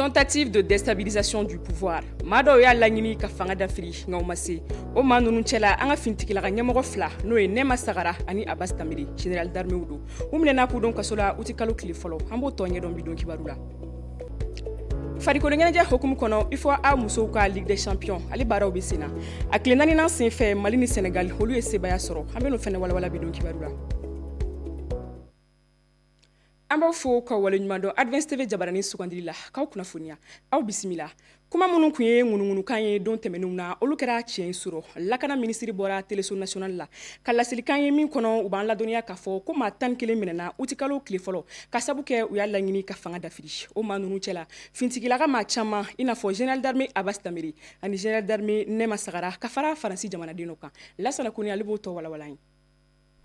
tentative de déstabilisation du pouvoir maa dɔw y'a laɲini ka fanga dafiri nka u ma se o maa ninnu cɛla an ka finitigilaka ɲɛmɔgɔ fila n'o ye nɛma sagara ani abas danbele general d'armew don u minɛna k'u don kaso la uti kalo tile fɔlɔ an b'o tɔ ɲɛdɔn bi don kibaru la farikoloɲɛnajɛ hukumu kɔnɔ ufoa musow ka ligue des champions ale baaraw bɛ sen na a tile naaninan sen fɛ mali ni senegal olu ye sebaaya sɔrɔ an bɛn'o fɛnɛ walawala bi don kibaru la an b'aw fo ka waleɲumandɔn advance tv jabarani sugandili la k'aw kunnafoniya aw bisimila kuma minnu tun ye ŋunuŋunukan ye don tɛmɛnenw na olu kɛra tiɲɛ ye surɔ lakana minisiri bɔra teleso nasonali la ka laselikan ye min kɔnɔ u b'an ladɔnniya k'a fɔ ko maa tan ni kelen minɛna utikalo tile fɔlɔ ka sabu kɛ u y'a laɲini ka fanga dafiri o maa ninnu cɛ la fintigilaka maa caman i n'a fɔ general d'armée abas danbele ani general d'armée nɛma sagara ka fara faransi jamanaden dɔ kan lasana kone ale b'o tɔ walawala an ye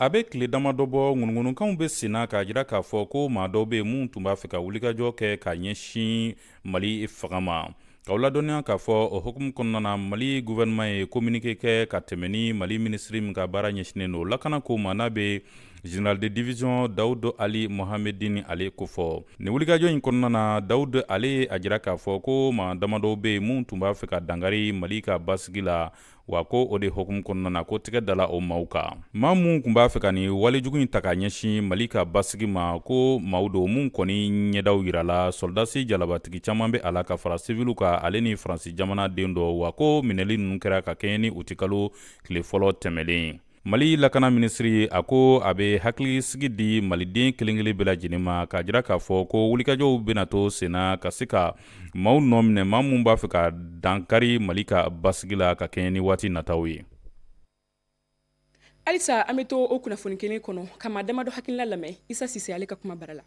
a bɛ tile damadɔ bɔ ŋunuŋunukanw bɛ sen na k'a jira k'a fɔ ko maa dɔw bɛ minnu tun b'a fɛ ka wulikajɔ kɛ ka ɲɛsin mali fanga ma k'aw ladɔnniya k'a fɔ o hukumu kɔnɔna na mali guvɛrɛnɛman ye kominike kɛ ka tɛmɛ ni mali minisiri min ka baara ɲɛsinnen don lakana ko ma n'a bɛ general de division dawudu ali mohamedin ale kofɔ nin wulikajɔ in kɔnɔna na dawudu ale ye a jira k'a fɔ ko maa damadɔ bɛ yen minnu tun b'a fɛ ka dankari mali ka basigi la wa ko o de hukumu kɔnɔna na ko tɛgɛ dala o maaw kan maa minnu tun b'a fɛ ka nin walejugu in ta ka ɲɛsin mali ka basigi ma ko maaw don minnu kɔni ɲɛdaw yirala sɔrɔdasi jalabatigi caman bɛ a la ka fara siviliw kan ale ni faransi jamanaden dɔ wa ko minɛli ninnu kɛra ka kɛɲɛ ni utikalo tile fɔlɔ tɛmɛlen mali lakana minisiri a ko a bɛ hakilisigi di maliden kelen-kelen bɛɛ lajɛlen ma k'a jira k'a fɔ ko wulikajɔw bɛna to senna ka se ka maaw nɔ minɛ maa minnu b'a fɛ ka dankari mali ka basigi la ka kɛɲɛ ni waati nataw ye halisa an bɛ to o kunnafoni kelen kɔnɔ ka maa damadɔ hakilila lamɛn isa sise ale ka kuma bara la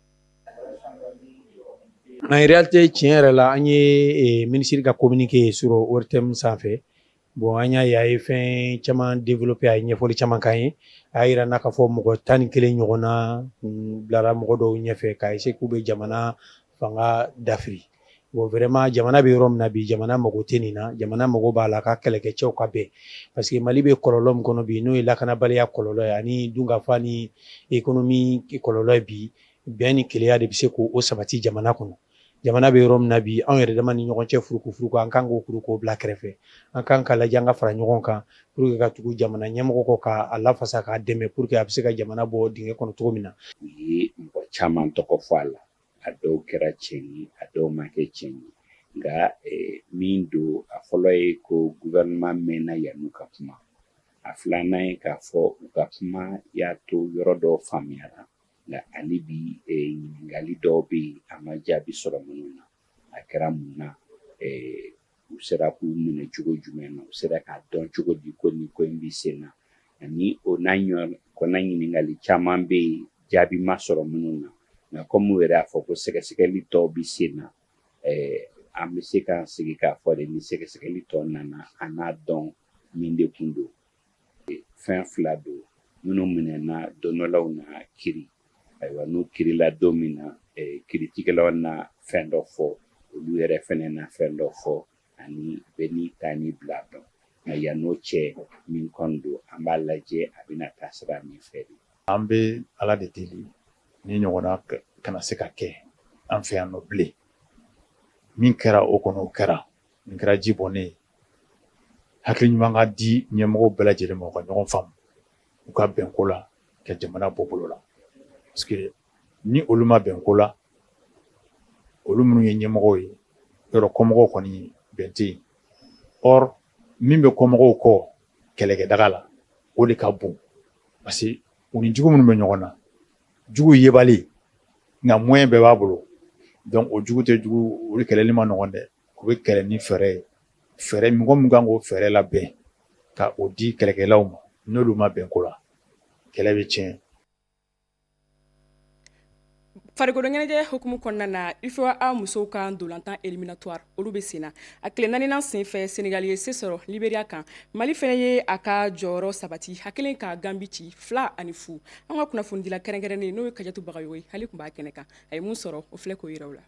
en réalité tiɲɛ yɛrɛ la an ye eh, minisiri ka communiqué ye surɔ ortm sanfɛ Bon an y'a ye a ye fɛn caman développer a ye ɲɛfɔli caman k'an ye, a y'a jira an na k'a fɔ mɔgɔ tan ni kelen ɲɔgɔnna bilara mɔgɔ dɔw ɲɛfɛ ka essayer k'u bɛ jamana fanga dafiri bon vraiment jamana bɛ yɔrɔ min na bi, jamana mago tɛ nin na, jamana mago b'a la a ka kɛlɛkɛcɛw ka bɛn parce que Mali bɛ kɔlɔlɔ min kɔnɔ bi, n'o ye lakanabaliya kɔlɔlɔ ye ani dunkafa ni économie kɔlɔlɔ ye bi, bɛn ni kelenya de bɛ se k'o sabati jamana kɔnɔ. jamana bɛ yɔrɔ min na bi anw yɛrɛ dama ni ɲɔgɔn cɛ furukufuruku an kan k'o kuru k'o bila kɛrɛfɛ an kan ka lajɛ an ka fara ɲɔgɔn kan pour que ka tugu jamana ɲɛmɔgɔ kɔ k'a lafasa k'a dɛmɛ pour que a bɛ se ka jamana bɔ dingɛ kɔnɔ cogo min na. u ye mɔgɔ caman tɔgɔ fɔ a la a dɔw kɛra tiɲɛ ye a dɔw ma kɛ tiɲɛ ye nka eh, min don a fɔlɔ ye ko gouvernement mɛnna yan'u ka kuma a filanan ye k'a fɔ u ka kuma y'a to yɔrɔ dɔw faamuyara nka hali bi e, ɲininkali dɔw bɛ yen a ma jaabi sɔrɔ minnu na a kɛra mun na e, u sera k'u minɛ cogo jumɛn na u sera k'a dɔn cogo di ko nin ko in bɛ sen na ani o n'a ɲɔgɔnna ɲininkali caman bɛ yen jaabi ma sɔrɔ minnu na nka kɔmi u yɛrɛ y'a fɔ ko sɛgɛsɛgɛli tɔw bɛ sen na e, an bɛ se k'an sigi k'a fɔ de ni sɛgɛsɛgɛli tɔw nana an n'a dɔn min de kun don fɛn fila don minnu minɛna don dɔ la u na kiri ayiwa n'u kirila don min na kiritigɛlaw na fɛn dɔ fɔ olu yɛrɛ fɛnɛ na fɛn dɔ fɔ ani bɛɛ n'i ta ni bila dɔn nka yann'o cɛ min kɔni don an b'a lajɛ a bɛna taa sira min fɛ de an bɛ ala de deli nin ɲɔgɔnna kana se ka kɛ an fɛ yan nɔ bilen min kɛra o kɔnɔ o kɛra nin kɛra ji bɔnnen ye Hakili ɲuman ka di ɲɛmɔgɔw bɛɛ lajɛlen ma u ka ɲɔgɔn faamu u ka bɛn ko la ka jamana bɔ bolo la parce que ni olu ma bɛn ko la olu minnu ye ɲɛmɔgɔw ye yɔrɔ kɔmɔgɔw kɔni bɛn tɛ yen or min bɛ kɔmɔgɔw kɔ kɛlɛkɛdaga la o de ka bon parce que u ni jugu minnu bɛ ɲɔgɔn na jugu yebali nka moyen bɛɛ b'a bolo donc o jugu tɛ jugu olu kɛlɛli ma nɔgɔn dɛ U bɛ kɛlɛ ni fɛɛrɛ ye fɛɛrɛ mɔgɔ min kan k'o fɛɛrɛ labɛn ka o di kɛlɛkɛlaw ma n'olu ma bɛn ko la kɛlɛ bɛ tiɲɛ farikoloɲɛnajɛ hukumu kɔnɔna na UFOA musow ka ndolantan éliminatoire olu bɛ senna a tile naaninan senfɛ Senegal ye se sɔrɔ Liberia kan Mali fɛnɛ ye a ka jɔyɔrɔ sabati a kɛlen ka Gambi ci fila ani fu an ka kunnafonidila kɛrɛnkɛrɛnnen n'o ye Kajatu Bagayogo ye ale tun b'a kɛnɛ kan a ye mun sɔrɔ o filɛ k'o jira aw la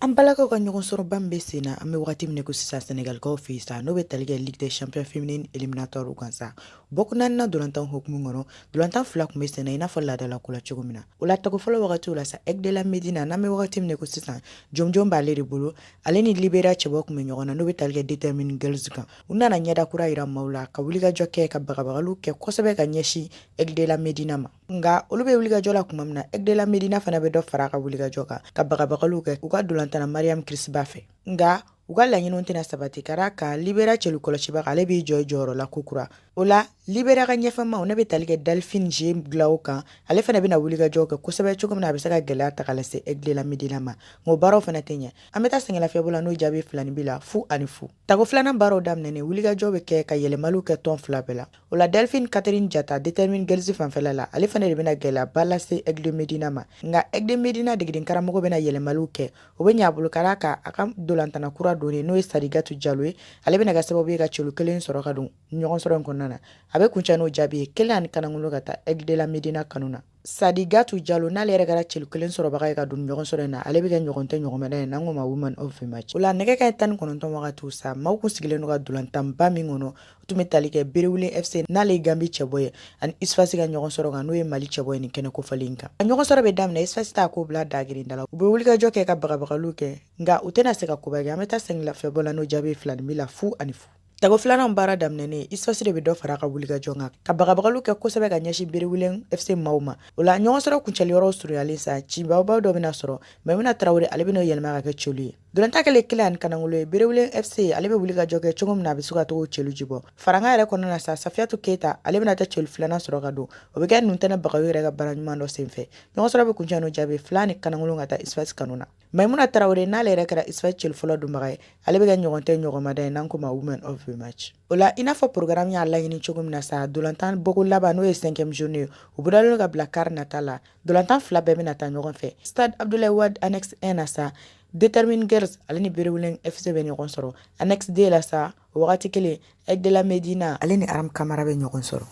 An balakaw ka ɲɔgɔnsɔrɔba bɛ sen na an bɛ waati min ko sisan Senegalikaw fɛ yen sa n'o bɛ tali kɛ Ligue des Champions féminine éliminatoire kan sa bɔko naaninan ndolantan hukumu kɔnɔ ndolantan fila tun bɛ sen i n'a fɔ laadala ko la cogo min na o la tako fɔlɔ wagati la sa Aigles de la Médina n'an bɛ waati min ko sisan jɔnjɔn b'ale de bolo ale ni Liberia cɛbɔ tun bɛ ɲɔgɔn na n'o bɛ tali kɛ Determine Girls kan u nana ɲɛda kura jira maaw la ka wulikajɔ kɛ ka bagabagali kɛ kosɛbɛ ka ɲɛsin Aigles de la Médina ma nka olu bɛ wulikajɔ la kuma min na Aigle de la Medina fana bɛ dɔ fara ka wulikajɔ kan ka bagabagaliw kɛ u ka dolantana mariyamu kirisiba fɛ nka u ka laɲiniw tɛna sabati ka d'a kan Liberia celu kɔlɔsibaa ale b'i jɔ jɔyɔrɔ la kokura o la Liberia ka ɲɛfɛmaw ne bɛ tali kɛ Delphine G Glao kan ale fana bɛna wulikajɔw kɛ kosɛbɛ cogo min na a bɛ se ka gɛlɛya ta ka lase Aigle de la Medina ma nka o baaraw fana tɛ ɲɛ an bɛ taa sɛgɛnlafiɲɛbɔ la n'o jaabi filaninbin la fu ani fu tago filanan baaraw daminɛnen wulikajɔ bɛ kɛ ka yɛlɛmaliw kɛ tɔn fila bɛɛ la O la Delphine Catherine Jata Determine Girls fanfɛla la, ale fana de bɛna gɛlɛyaba lase Aigle de Medina ma. Nka Aigle de Medina degeden karamɔgɔ bɛna yɛlɛmaliw kɛ. O bɛ ɲɛ a bolo ka d'a kan a ka dolantana kura donnen n'o ye Sadigatu Jalo ye, ale bɛna kɛ sababu ye ka celu kelen sɔrɔ ka don ɲɔgɔnsɔrɔ in kɔnɔna na. A bɛ kuncɛ n'o jaabi ye, kelen ani kanangolo ka taa Aigle de la Medina kanu na. Sadigatu Jalo n'ale yɛrɛ kɛra celu kelen sɔrɔbaga ye ka don ɲɔgɔn sɔrɔ in na ale bɛ kɛ ɲɔgɔn tɛ ɲɔgɔnmada ye n'an k'o ma woman of the match o la nɛgɛ kaɲɛ tan ni kɔnɔntɔn wagatiw sa maaw kun sigilen don ka dolantanba min kɔnɔ o tun bɛ tali kɛ Berewuleng FC n'ale ye ganbi cɛbɔ ye ani USFAS ka ɲɔgɔn sɔrɔ kan n'o ye mali cɛbɔ ye nin kɛnɛ kofɔlen in kan a ɲɔgɔn sɔrɔ bɛ daminɛ USFAS t'a ko bila dagirindala u bɛ wulikajɔ kɛ ka bagabagaliw kɛ nka u tɛna se ka koba kɛ an bɛ taa sɛgɛnlafiɲɛbɔ la n'o jaabi filaninbin la fu ani fu Tako filanan baara daminɛnen USFAS de bɛ dɔ fara ka wulikajɔ kan ka bagabagaliw kɛ kosɛbɛ ka ɲɛsin Berewuleng FC maaw ma o la ɲɔgɔn sɔrɔ kuncɛli yɔrɔ surunyalen sa cibaw dɔ bɛna sɔrɔ Mayimuna Tarawele ale bɛna yɛlɛma ka kɛ celu ye dolantan kɛlen kelen ani kanakolo ye Berewuleng FC ale bɛ wulikajɔ kɛ cogo min na a bɛ se ka tɔgɔ celu ji bɔ farankan yɛrɛ kɔnɔna na sa Safiyatu Keyita ale bɛna taa celu filanan sɔrɔ ka don o bɛ kɛ Nuntɛnɛ Bagayɔgɔ yɛrɛ ka baara ɲuman dɔ senfɛ ɲɔgɔn sɔrɔ bɛ kuncɛ n'o jaabi fila ni kanakolo ka taa USFAS kanu na Mayimuna Tarawele n'ale yɛrɛ kɛra USFAS celu fɔlɔ donbaga ye ale bɛ kɛ ɲɔgɔn tɛ ɲɔgɔnmada ye n'an k'o ma woman of the match o la i n'a fɔ programu y'a laɲini cogo min na sa dolantan bɔko laban n'o ye cinquième journée ye o bolodalen ka bila kari nata la dolantan fila bɛɛ bɛna taa ɲɔgɔn fɛ stade Abdoulaye Wade annexe un na sa Determine Girls ale ni Berewuleng FC bɛ ɲɔgɔn sɔrɔ annexe deux la sa o wagati kelen Aigle de la Medina ale ni Ram Kamara bɛ ɲɔgɔn sɔrɔ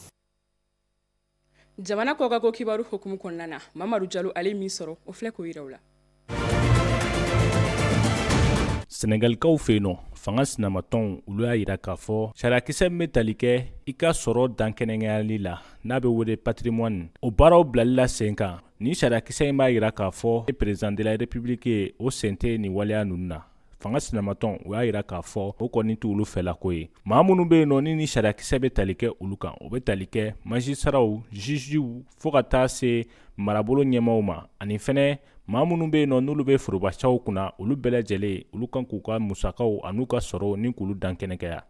jamana kɔkan ko kibaru hukumu kɔnɔna na mamadu jalo ale min sɔrɔ o filɛ k'o yira aw la senegalikaw fɛ yen nɔ fanga sinamatɔnw olu y'a yira k'a fɔ sariyakisɛ min bɛ tali kɛ i ka sɔrɔ dankɛnɛkɛyali la n'a bɛ wele patrimoine o baaraw bilali la sen kan nin sariyakisɛ in b'a yira k'a fɔ e président de la république ye o sen tɛ nin waleya ninnu na fanga sinamatɔnw y'a yira k'a fɔ o kɔni t'olu fɛlako ye maa minnu bɛ yen nɔ ni ni sariyakisɛ bɛ tali kɛ olu kan o bɛ tali kɛ magistratw jugew fɔɔ ka taa se marabolo ɲɛmaaw ma ani fɛnɛ maa minnu bɛ yen nɔ n'olu bɛ forobacaw kunna olu bɛɛ lajɛlen olu kan k'u ka musakaw an'u ka sɔrɔ ni k'olu dankɛnɛkɛya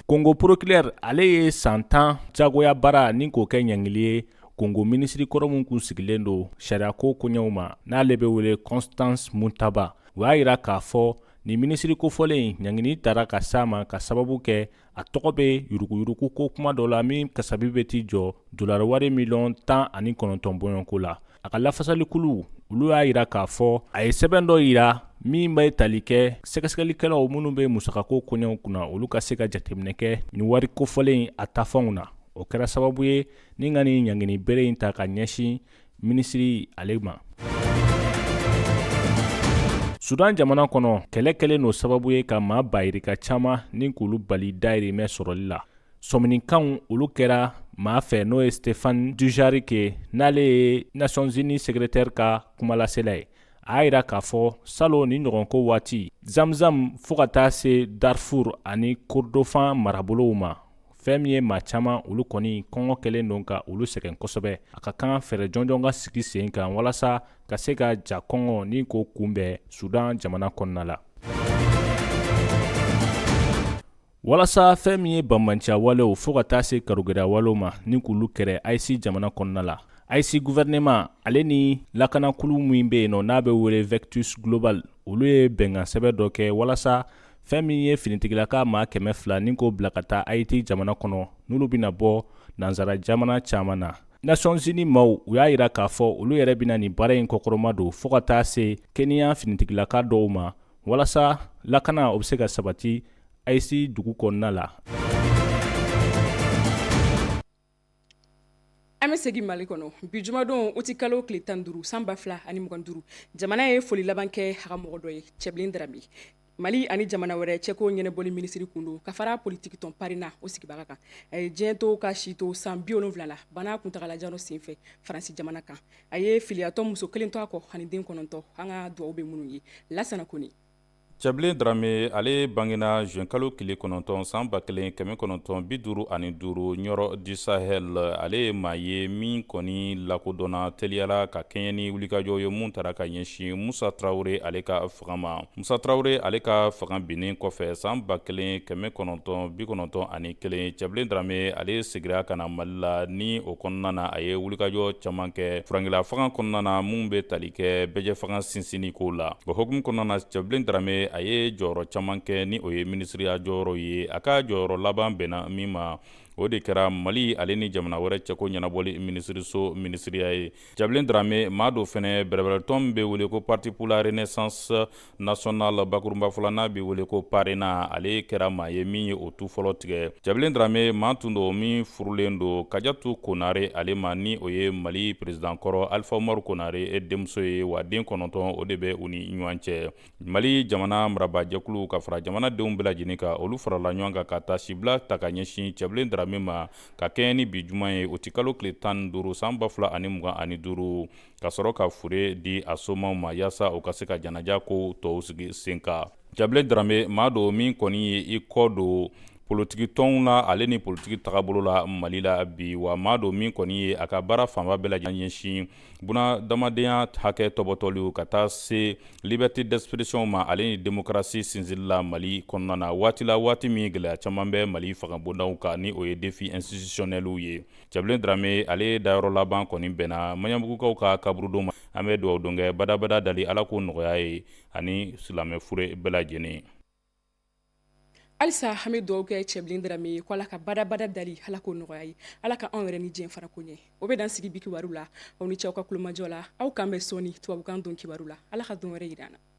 kongo procureur ale ye san tan jagoya baara ɲini k'o kɛ ɲangili ye Kongo minisiri kɔrɔ min kun sigilen don sariyako koɲɛw ma n'ale bɛ wele constance muntaba u y'a jira k'a fɔ nin minisiri kofɔlen ɲangini tara ka s'a ma ka sababu kɛ a tɔgɔ bɛ yuruguyurugu ko kuma dɔ la min kasabi bɛ t'i jɔ dolari wari miliyɔn tan ani kɔnɔntɔn bɔɲɔgɔnko la a ka lafasalikulu olu y'a jira k'a fɔ a ye sɛbɛn dɔ jira min bɛ tali kɛ sɛgɛsɛgɛlikɛlaw minnu bɛ musakako koɲɛw kunna olu ka se ka jateminɛ kɛ nin wari kofɔlen a tafanw na o kɛra sababu ye Ni ka nin ɲangini bere in ta ka ɲɛsin minisiri ale ma sudan jamana kɔnɔ kɛlɛ kɛlen don sababu ye ka maa bayirika caman ni k'olu bali dayirimɛ sɔrɔli la sɔminikanw olu kɛra maa fɛ n'o ye stéphane dujarric n'ale ye nations unies secrétaire ka kumalasela ye a y'a jira k'a fɔ salon ni ɲɔgɔnko waati zamzam fo ka taa se darfour ani kordofan marabolow ma fɛn min ye maa caman olu kɔni kɔngɔ kɛlen don ka olu sɛgɛn kosɛbɛ a ka kan fɛɛrɛ jɔnjɔn ka sigi sen kan walasa ka se ka ja kɔngɔ ni k'o kunbɛn sudan jamana kɔnɔna la walasa fɛn min ye banbanciya walew fɔɔ ka taa se karigɛlɛya walew ma ni k'olu kɛrɛ ayiti jamana kɔnɔna la ayiti guvɛrɛnɛman ale ni lakanakulu min be yen nɔ n'a be wele vectus global olu ye bɛnkansɛbɛn dɔ kɛ walasa fɛn min ye finitigilaka maa kɛmɛ fila ni k'o bila ka taa ayiti jamana kɔnɔ n'olu bɛna bɔ nansara jamana caman na nations unies maaw u y'a yira k'a fɔ olu yɛrɛ bɛna nin baara in kɔkɔrɔma don fɔɔ ka taa se keniya finitigilaka dɔw ma walasa lakana o bɛ se ka sabati ayiti dugu kɔnɔna la an bɛ segin mali kɔnɔ bi jumadon uti kalo tile tan duuru san ba fila ani mugan duuru jamana ye foli laban kɛ a ka mɔgɔ dɔ ye cɛbilen darame mali ani jamana wɛrɛ cɛko ɲɛnabɔli minisiri kun don ka fara politikitɔn parena o sigibaga kan a ye diɲɛ to k'a si to san bi wolonwula la bana kuntaalajan senfɛ faransi jamana kan a ye filiyatɔ muso kelen to a kɔ ani den kɔnɔntɔn an ka dugawu bɛ minnu ye lasana kɔnɛ cɛbilen darame ale bangena juin kalo tile kɔnɔntɔn san ba kelen kɛmɛ kɔnɔntɔn bi duuru ani duuru ɲɔrɔ du sahel ale ye maa ye min kɔni lakodɔnna teliya la ka kɛɲɛ ni wulikajɔ ye mun tara ka ɲɛsin musa tarawele ale ka fanga ma musa tarawele ale ka fanga binnen kɔfɛ san ba kelen kɛmɛ kɔnɔntɔn bi kɔnɔntɔn ani kelen cɛbilen darame ale segira ka na mali la ni o kɔnɔna na a ye wulikajɔ caman kɛ furankɛla fanga kɔnɔna na mun bɛ tali kɛ bɛɛjɛ fanga sinsinni ko la o hukumu kɔnɔna na cɛbilen darame a ye jɔyɔrɔ caman kɛ ni o ye minisiriya jɔyɔrɔ ye a ka jɔyɔrɔ laban bɛnna min ma o de kɛra mali ale ni jamana wɛrɛ cɛko ɲɛnabɔli minisiriso minisiriya ye cɛbilen darame maa don fɛnɛ bɛrɛbɛrɛtɔn min bɛ wele ko parti pour la renaissance national bakurunba fɔ la n'a bɛ wele ko parena ale kɛra maa ye min ye o tu fɔlɔ tigɛ cɛbilen darame maa tun don min furulen don kajatu konare ale ma ni o ye mali peresidankɔrɔ alifa umaru konare denmuso ye wa den kɔnɔntɔn o de bɛ u ni ɲɔgɔn cɛ mali jamana marabajɛkulu ka fara jamanadenw bɛɛ lajɛlen kan olu farala ɲɔgɔn kan ka taasibila ta ka ɲɛsin cɛbilen darame ma ka kɛɲɛ ni bi juma ye uti kalo tile tan ni duuru san ba fila ani mugan ani duuru ka sɔrɔ ka fure di a somaw ma yaasa u ka se ka janaja kow tɔw sigi sen kan cɛbilen darame maa don min kɔni ye i kɔ don politiki tɔnw na ale ni politiki tagabolo la mali la bi wa maa don min kɔni ye a ka baara fanba bɛɛ lajɛlen ɲɛsin bunadamadenya hakɛ tɔbɔtɔliw ka taa se liberté d'expression ma ale ni démocratie sinsinli la mali kɔnɔna na waati la waati min gɛlɛya caman bɛ mali fangabondaw kan ni o ye défi institutionnels ye cɛbilen darame ale dayɔrɔ laban kɔni bɛnna maɲanbugukaw ka kaburudon ma an bɛ dugawu don kɛ badabada dali ala k'o nɔgɔya a ye ani silamɛ fure bɛɛ lajɛlen halisa an bɛ dugawu kɛ cɛbilen darame ye ko ala ka badabada dali ala k'o nɔgɔya a ye ala ka anw yɛrɛ ni diɲɛ farako ɲɛ o bɛ dan sigi bi kibaru la aw ni ce aw ka tulomajɔ la aw k'an bɛn sɔɔni tubabukan don kibaru la ala ka don wɛrɛ yir'an na